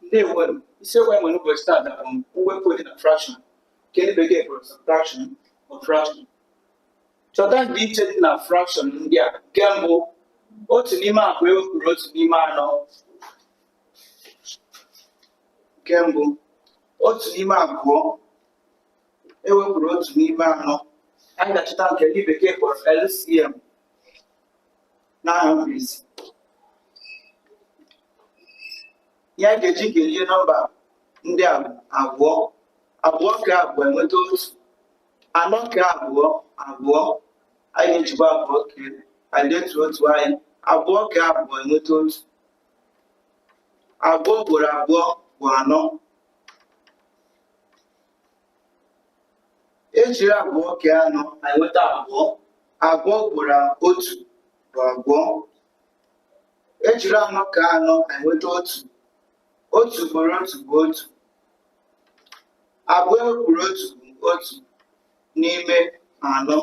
ndewo isiokwu anyị nwere ụbọchị taa bụ mwepụ dị na frakshọn nke ndị bekee kpọrọ subtraction of fraction chọta ndịiche dị na frakshọn ndị a nke mbụ otu n'ime abụọ ewepụrụ otu n'ime anọ anyị ga-achọta nke ndị bekee kpọrọ LCM n'aha mkpirisi anyị ga-eji kee nọmba ndị a abụọ abụọ kee abụọ enweta otu anọ kee abụọ abụọ anyị ga-ejikwa abụọ kee anyị detuo otu anyị abụọ kee abụọ enweta otu abụọ ugboro abụọ bụ anọ ejiri abụọ kee anọ anyị enweta abụọ abụọ ugboro otu bụ abụọ ejiri anọ kee anọ anyị enweta otu otu ugboro otu bụ otu abụọ ewepụrụ otu bụ otu n'ime anọ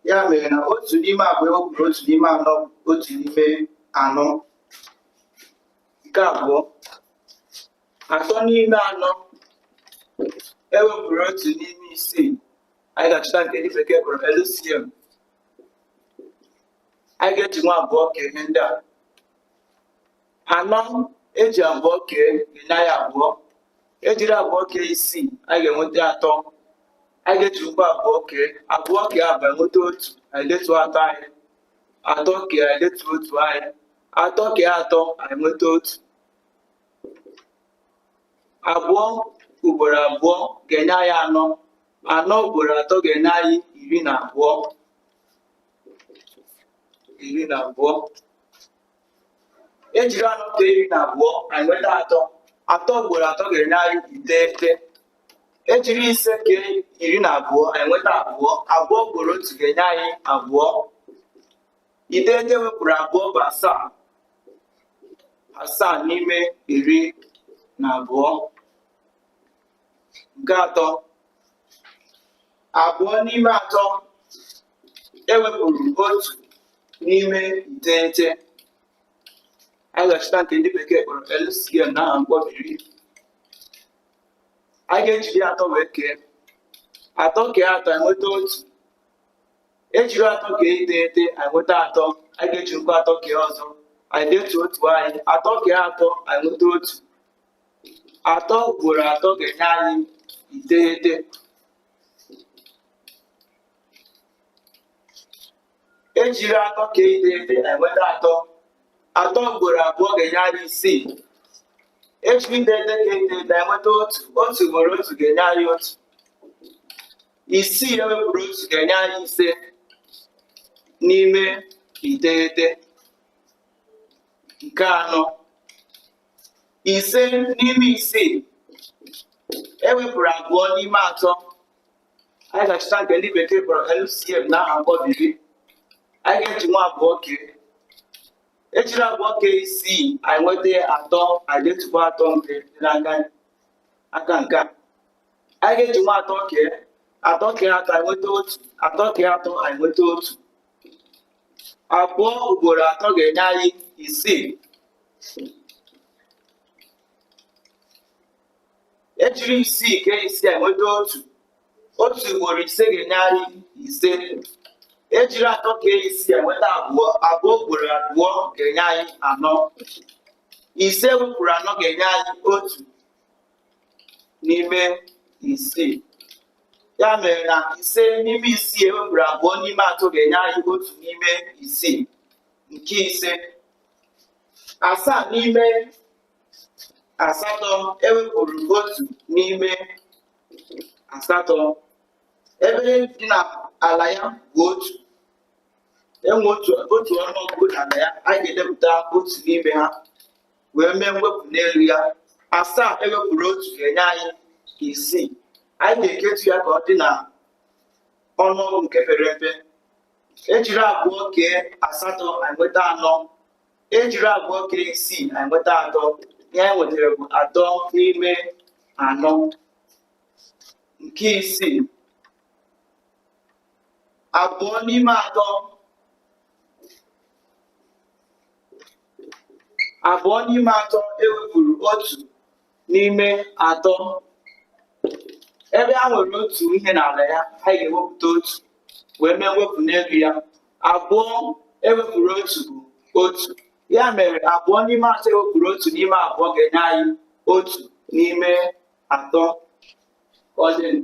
ya mere na otu n'ime abụọ ewepụrụ otu n'ime anọ bụ otu n'ime anọ nke abụọ atọ n'ime anọ ewepụrụ otu n'ime isii anyị ga-achọta nke ndị bekee kpọrọ LCM anyị ga-ejikwa abụọ kee ihe ndị a anọ eji abụọ kee enye anyị abụọ ejiri abụọ kee isii anyị ga-enweta atọ anyị ga-ejikwa abụọ kee abụọ kee abụọ enweta otu anyị detuo atọ anyị atọ kee anyị detuo otu anyị atọ kee atọ anyị nweta otu abụọ ugboro abụọ ga-enye anyị anọ anọ ugboro atọ ga-enye anyị iri na abụọ iri na abụọ ejiri anọ kee iri na abụọ anyị nweta atọ atọ ugboro atọ ga-enye anyị iteghete ejiri isii kee iri na abụọ anyị nweta abụọ abụọ ugboro otu ga-enye anyị abụọ iteghete ewepụrụ abụọ bụ asaa asaa n'ime iri na abụọ nke atọ abụọ n'ime atọ ewepụrụ otu n'ime iteghete anyị ga-achọta nke ndị bekee kpọrọ LCM n'aha mkpọbiri anyị ga-ejiri atọ wee kee atọ kee atọ enweta otu ejiri atọ kee iteghete anyị nweta atọ anyị ga-ejirikwa atọ kee ọzọ anyị detuo otu anyị atọ kee atọ anyị nweta otu atọ ugboro atọ ga-enye anyị iteghete ejiri atọ kee iteghete anyị nweta atọ atọ ugboro abụọ ga-enye anyị isii ejiri iteghete kee iteghete anyị nweta otu otu ugboro otu ga-enye anyị otu isii ewepụrụ otu ga-enye anyị ise n'ime iteghete nke anọ ise n'ime isii ewepụrụ abụọ n'ime atọ anyị ga-achọta nke ndị bekee kpọrọ LCM na aha mkpọbiri anyị ga-eji nwa abụọ kee ejiri abụọ kee isii anyị nweta atọ anyị ga-edetukwa atọ nke dị n'aka aka nke a anyị ga-eji nwa atọ kee atọ kee atọ anyị nweta otu atọ kee atọ anyị nweta otu abụọ ugboro atọ ga-enye anyị isii ejiri isii kee isii anyị nweta otu otu ugboro ise ga-enye anyị ise ejiri atọ kee isii anyị nweta abụọ abụọ ugboro abụọ ga-enye anyị anọ ise ewepụrụ anọ ga-enye anyị otu n'ime isii ya mere na ise n'ime isii ewepụrụ abụọ n'ime atọ ga-enye anyị otu n'ime isii nke ise asaa n'ime asatọ ewepụrụ otu n'ime asatọ ebe ihe dị n'ala ya bụ otu enwe otu ọnụọgụ n'ala ya anyị ga-edepụta otu n'ime ha wee mee mwepụ n'elu ya asaa ewepụrụ otu ga-enye anyị isii anyị ga-eketu ya ka ọ dị na ọnụọgụ nke pere mpe ejiri abụọ kee asatọ anyị nweta anọ ejiri abụọ kee isii anyị nweta atọ ihe anyị nwetara bụ atọ n'ime anọ nke isii abụọ n'ime atọ abụọ n'ime atọ ewepụrụ otu n'ime atọ ebe ha nwere otu ihe n'ala ya anyị ga-ewepụta otu wee mee mwepụ n'elu ya abụọ ewepụrụ otu bụ otu ya mere abụọ n'ime atọ ewepụrụ otu n'ime atọ ga-enye anyị otu n'ime atọ ọdịn